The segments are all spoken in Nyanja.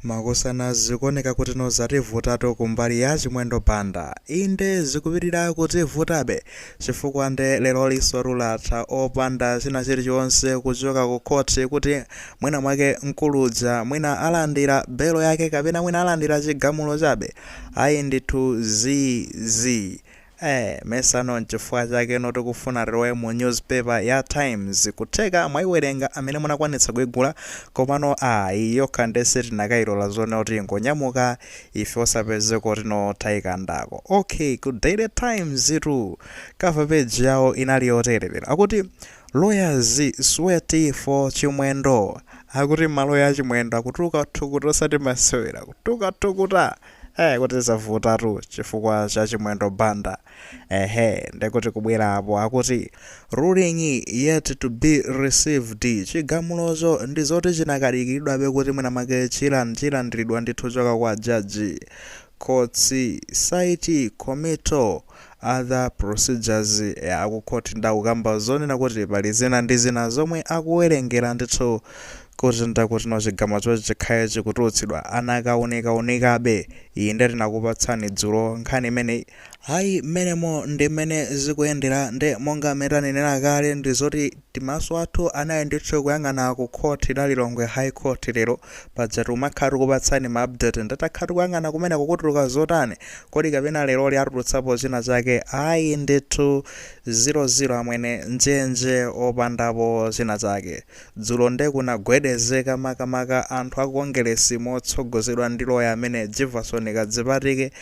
Makosana zikuoneka kutino zativutatu kumbali ya Chimwendo Banda. Inde zikupitira kutivutabe chifukwa nde lerolinsotu latha opanda china chilichonse kuchoka ku khoti kuti mwina mwake mkulu uja mwina alandira belo yake kapena mwina alandira chigamulo chabe. Ayi ndithu zi zii. Eee masano nchifukwa chakeno tikufuna tilowe mu news paper ya times kutheka mwaiwerenga amene munakwanitsa kuigula komano aa iyi yokha nde sitinakailola zonena kuti ingonyamuka ife osapezeko tino taikandako ok ku daily times tu cover page yawo inali yotere lero akuti lawyers sweat for chimwendo akuti maloya a Chimwendo akutuluka thukuta osati masewera kutuluka thukuta ee kuti zavutatu chifukwa cha chimwendo banda ehe ndekuti kubwera apo akuti ruling yet to be received chigamulocho ndi zoti chinakadikiridwabe kuti mwina mwake chilan chilandiridwa ndithu kuchoka kwa jaji courts cite committal other procedures aku court ndakukamba zonena kuti pali zina ndi zina zomwe akuwerengera ndithu kuti ndakutino chigamulochi chikhale chikutulutsidwa anakaunikawunikabe iyi nde tinakupatsani dzulo nkhani imeneyi ayi mmenemo ndi mmene zikuyendera nde monga mmene tanenera kale ndi zoti Timaso athu anali ndithu kuyang'ana ku court la Lilongwe high court lero, paja tikumakhala tikupatsani ma update nde takhala tikuyang'ana kumene kukutuluka zotani, kodi kapena leroli atulutsapo china chake, ayi ndithu zero zero amwene, njenje opandapo china chake. Dzulo nde kunagwedezeka makamaka anthu a ku Kongeresi motsogozedwa ndi loya amene Jivason Kadzipatike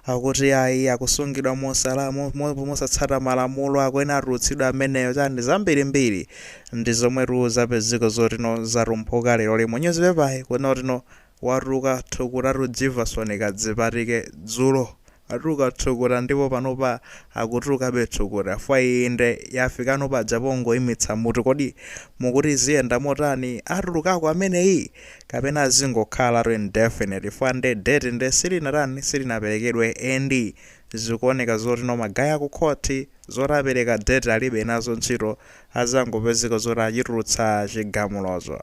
akuti ayi akusungidwa mosala, mo, mo, mosatsata malamulo akuyenera atulutsidwe ameneyo chani zambirimbiri ndi zomwetu zapezeka zoti no zatumphuka leroli mu nyuzipepayi kunena kutino watuluka thukutatu Jivason Kadzipatike dzulo watuluka thukuta ndipo panopa akutulukabe thukuta chifukwa iyi nde yafikano paja pongoimitsa mutu kodi mukuti ziyenda motani atulukako ameneyi? kapena zingokhalatu indefinite chifukwa nde date nde silinatani silinaperekedwe and zikuoneka zoti no ma guy aku court zoti apeleka date alibe nazo ntchito azangopezeka zoti achitulutsa chigamulocho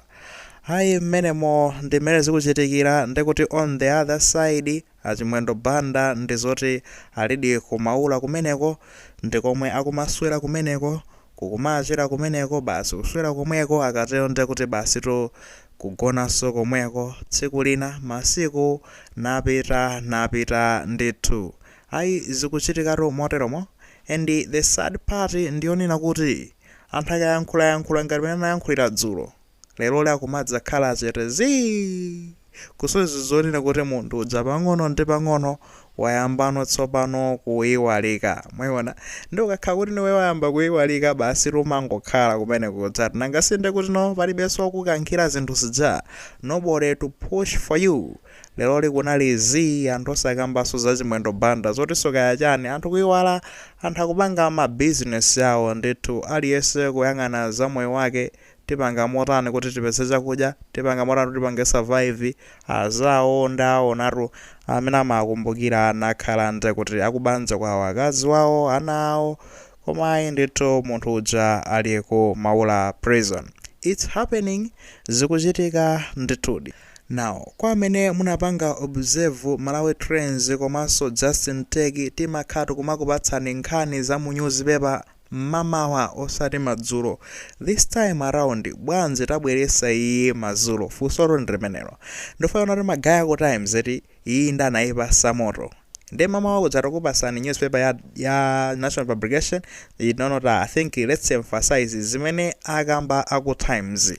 ayi mmenemo ndi mmene zikuchitikira ndekuti on the other side A Chimwendo Banda ndi zoti alidi ku Maula kumeneko, ndi komwe akumaswera kumeneko, kukumachira kumeneko, basi kuswera komweko, akatero ndiye kuti basitu kugonanso komweko, tsiku lina, masiku napita, napita ndithu. Ayi zikuchitikatu moteromo and the sad part ndi yonena kuti anthu akayankhulayankhula ngati mmene anayankhulira dzulo, leroli akumadzakhala chete zii kusonyeza zonena kuti munthu uja pang'ono ndi pang'ono wayambano tsopano kuiwalika mwayiona ndi ukakhala kuti niwe wayamba kuiwalika basi umangokhala kumene kuja eti nanga si nde kuti no palibenso wakukankhira zinthu zija nobody to push for you leroli kunali zii anthu osakambanso za chimwendo banda zotinso kaya chani anthu kuiwala anthu akupanga mabizinesi awo ndithu aliyense kuyang'ana za moyo wake tipanga motani kuti tipeze chakudya, tipanga motani kuti tipange survive, azawo ndawaonatu amene amawakumbukira nakhala nde kuti akubanja kwawo akazi wawo, ana awo, koma ayi ndithu munthu uja ali ku Maula prison. Its happening zikuchitika ndithudi. Now kwa amene munapanga observe Malawi trends komanso Justin Tech timakhala tikumakupatsani nkhani za mu nyuzipepa mmamawa osati madzulo this time around bwanji tabweresa iyi mazulo funsotu ndi limenelo ndufuna kuti magaye aku times eti iyi nde anayipasa moto nde mamawa kuja tukupasani newspaper ya, ya national publication you know not i think let's emphasize zimene akamba aku times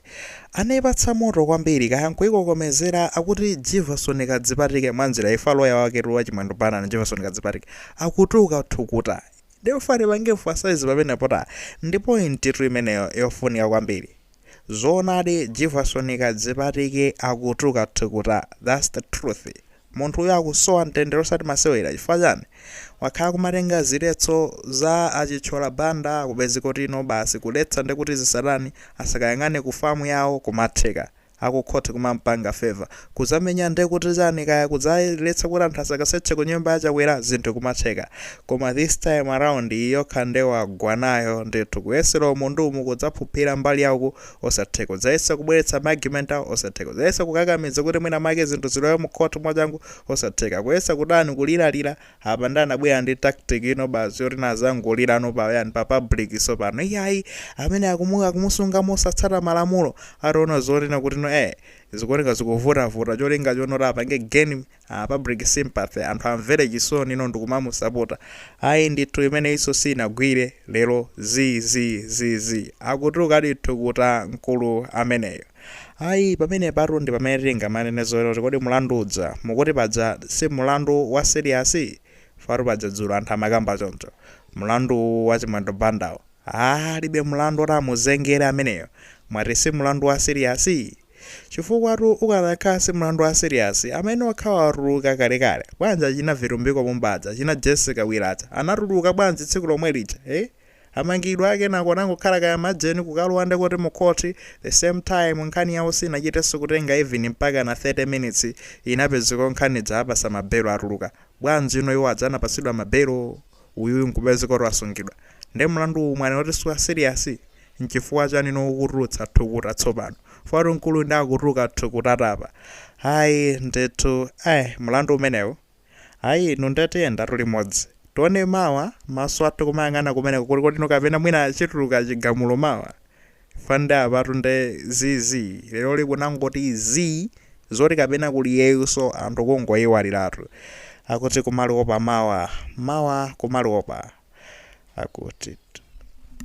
anayipatsa moto kwambiri kaya nkuyikokomezera akuti jivason kadzipatike mwanjira ina loya waketu wa chimwendo banda a jivason kadzipatike akutuka thukuta Therefore tipange emphasize pamenepotu ndi point tu imeneyo yofunika kwambiri. Zoonadi Jivason Kadzipatike akutuka thukuta that's the truth. Munthu uyu akusowa mtendere osati masewera chifukwa chani? Wakhala akumatenga ziletso za a Chithyola Banda kupezeka kuti no basi kuletsa ndekuti zisatani? Asakayang'ane ku farm yawo kumatheka. akukhoti kumampanga favour kuzamenya ndekuti chani kaya kudzaletsa kuti anthu asakaseche kunyumba ya chakwera zinthu kumatheka koma this time around iyi yokha nde wagwa nayo ndithu kuyesera umu ndi umu kudzaphuphira mbali ya uku osatheka kudzayesa kubweretsa ma argument awo osatheka kudzayesa kukakamidza kuti mwina mwake zinthu zilowe mu court mwachangu osatheka kuyesa kutani kuliralira Apa nde anabwera ndi tactic ino basi yoti nazangolirano pa yani pa public sopano iyayi amene akumu akumusunga mosatsata malamulo ataona zonena kuti no eh zikuoneka zikuvutavuta cholinga chonena kuti apange gain uh, public sympathy anthu amvere chisoni no ndikumamusapota ayi ndithu imeneyinso sinagwire lero zi zi zi zi akutuluka ndi thukuta mkulu ameneyo Ayi, pamenepatu ndi pamene tingamanene zoti kodi mlandu uja mukuti paja si mlandu wa serious? Chifukwa paja dzulo anthu amakamba choncho. Mlandu uwu wa Chimwendo Bandawu, aah alibe mlandu oti amuzengere ameneyo. Mwati si mlandu wa serious? Chifukwatu ukanakhala si mlandu wa serious, ameneyo akhala watuluka kalekale. Bwanji achina Vitumbiko Mumba aja, achina Jessie Kabwila aja anatuluka bwanji tsiku lomwe lija? Eeh? Amangidwa kenako anangokhala kaya majeni kukalowa ndekuti mu court the same time nkhani yawo sinachitenso kutenga even mpakana 30 minutes inapezeka nkhani ija apatsa ma bail atuluka. Bwanjino iwo aja anapatsidwa ma bail uyuyu nkupezeka kuti wasungidwa? Nde mlandu uwu mwanena kuti siwa serious? Nchifukwa chanino ukutulutsa thukuta tsopano? Fwatu mkulu nde akutuluka thukutatu apa. Ayi ndithu ai mlandu umenewu. Ayi inu nde tiyendatu limodzi. Tione mawa, maso athu kumayang'ana kumeneko kulikotino kapena mwina chituluka chigamulo mawa. Chifukwa nde apatu nde zii zii. Leroli kwangoti zii, zoti kapena kuli iyeyunso anthu kungoiwaliratu. Akuti kumaliwopa mawa, mawa kumaliwopa. Akutitu.